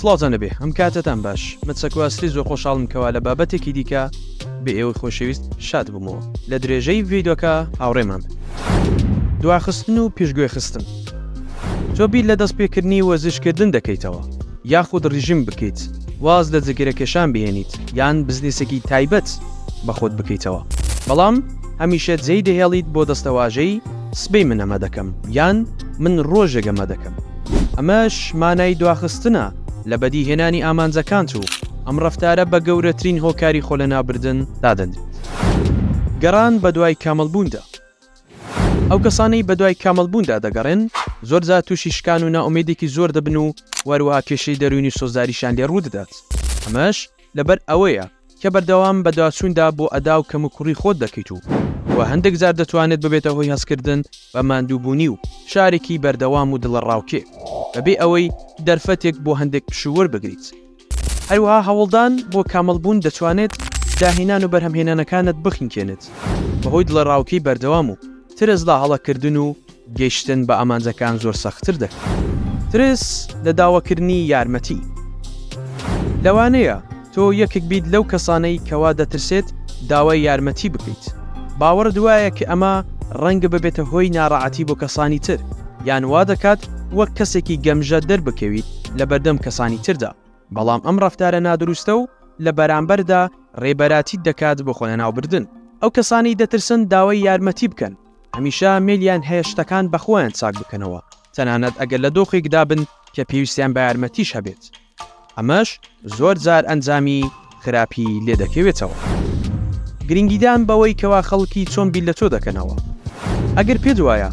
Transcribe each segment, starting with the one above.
سڵاوتان لەبێ ئەم کاتتان باش مەچەکواستی زۆر خۆشحاڵم کەوا لە بابەتێکی دیکە بە ئێوەی خۆشەویست شاد بوومەوە لە درێژەی ڤیدۆکە هاوڕێمان دواخستن و پێشگوێ خستن تۆ بیر لە دەستپێکردنی وەزشکردن دەکەیتەوە یاخود ڕژیم بکەیت واز لە جگرەکێشان بهێنیت یان بزنسێکی تایبەت بەخۆت بکەیتەوە بەڵام هەمیشە جێی دەهێڵیت بۆ دەستەواژەی سبەی من ئەمە دەکەم یان من ڕۆژێک ئەمە دەکەم. ئەمەش مانای دواخستنە لە بەدیهێنانی ئامانجەکانت و ئەم ڕەفتارە بە گەورەترین هۆکاری خۆلەناوبردن دادەنرێت. گەڕان بەدوای کامڵبووندا. ئەو کەسانەی بەدوای کامڵبووندا دەگەڕێن، زۆرجار تووشی شکان و نائومێدێکی زۆر دەبن و وەهەروەها کێشەی دەروونی و سۆزداریشیان لێ ڕوودەدات. ئەمەش لەبەر ئەوەیە کە بەردەوام بەدواچووندا بۆ ئەدا و کەموکوڕی خۆت دەکەیت و و هەندێک جار دەتوانێت ببێتە هۆی هەستکردن بە ماندووبوونی و فشارێکی بەردەوام و دڵەڕاوکێ بەبێ ئەوەی دەرفەتێک بۆ هەندێک پشوو وەربگریت. هەروەها هەوڵدان بۆ کامڵبوون دەتوانێت داهێنان و بەرهەمهێنانەکانت بخنکێنێت بەهۆی دڵەڕاوکێی بەردەوام و. ترس لە هەڵەکردن و گەیشتن بە ئامانجەکان زۆر سەختتر دەکات. ترس لە داواکردنی یارمەتی. لەوانەیە تۆ یەکێک بیت لەو کەسانەی کەوا دەترسێت داوای یارمەتی بکەیت. باوەڕت وایە کە ئەمە ڕەنگە ببێتە هۆی ناڕەعەتی بۆ کەسانی تر، یان وادەکات وەک کەسێکی گەمژە دەربکەویت لەبەردەم کەسانی تردا. بەڵام ئەم ڕەفتارە نادروستە و لە بەرامبەردا ڕێبەرایەتیت دەکات بۆ خۆلەناوبردن. ئەو کەسانەی دەترسن داوای یارمەتی بکەن، هەمیشە مەیلیان هەیە شتەکان بە خۆیان چاک بکەنەوە، تەنانەت ئەگەر لە دۆخێکدا بن کە پێویستیان بە یارمەتیش هەبێت. ئەمەش زۆرجار ئەنجامی خراپی لێ دەکەوێتەوە. گرنگیدان بەوەی کەوا خەڵکی چۆن بیر لە تۆ دەکەنەوە. ئەگەر پێت وایە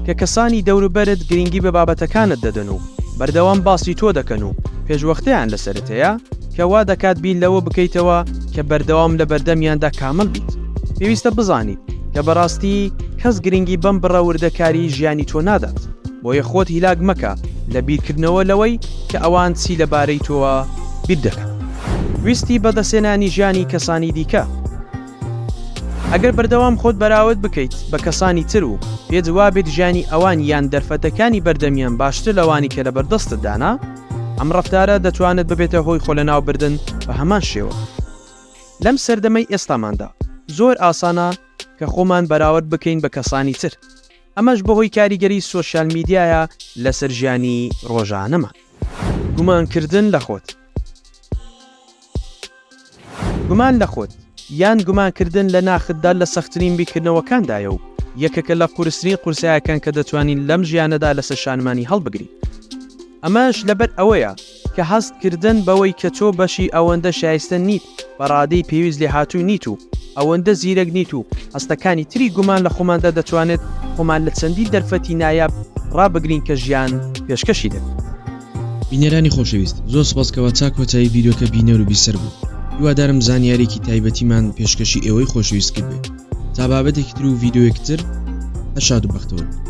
کە کەسانی دەوروبەرت گرنگی بە بابەتەکانت دەدەن و بەردەوام باسی تۆ دەکەن و پێشوەختەیان لەسەرت هەیە کە وا دەکات بیر لەوە بکەیتەوە کە بەردەوام لە بەردەمیاندا کامڵ بیت پێویستە بزانیت کە بەڕاستی کەس گرنگی بەم بڕە وردەکاریی ژیانی تۆ نادات بۆیە خۆت هیلاک مەکە لە بیرکردنەوە لەوەی کە ئەوان چی لەبارەی تۆوە بیر دەکەن. ویستی بەدەستهێنانی ژیانی کەسانی دیکە. ئەگەر بەردەوام خۆت بەراورد بکەیت بە کەسانی تر و پێت وابێت ژیانی ئەوان یان دەرفەتەکانی بەردەمیان باشترە لەوانی کە لەبەردەستتدانە، ئەم ڕەفتارە دەتوانێت ببێتە هۆی خۆلەناوبردن بە هەمان شێوە. لەم سەردەمەی ئێستاماندا زۆر ئاسانە کە خۆمان بەراورد بکەین بە کەسانی تر، ئەمەش بەهۆی کاریگەری سۆشیال میدیایە لەسەر ژیانی ڕۆژانەمان. گومانکردن لە خۆت. گومان لە خۆت، یان گومان کردن لە ناختدا لە سەختترین بیرکردنەوەکاندایە و یەکێکە لە قورسترین قورسایەکان کە دەتوانین لەم ژیانەدا لەسەر شانمانی هەڵبگرین. ئەمەش لەبەر ئەوەیە کە هەست کردن بەوەی کە تۆ بەشی ئەوەندە شایستە نیت، بە ڕادەی پێویست لێهاتوو نیت و ئەوەندە زیرەک نیت و هەستەکانی تری گومان لە خۆماندا دەتوانێت خۆمان لە چەندین دەرفەتی نایاب ڕابگرین کە ژیان پێشکەشی دەکات. بینەرانی خۆشەویست زۆر سوپاس کەوا تا کۆتایی ڤیدیۆکە بینەر و بیسەر بوون هیوادارم زانیاریکی تایبەتیمان پێشکەشی ئێوەی خۆشەویست کردبێت تا بابەتێکی تر و ڤیدیۆیەکی تر هەر شاد و بەختەوەر بن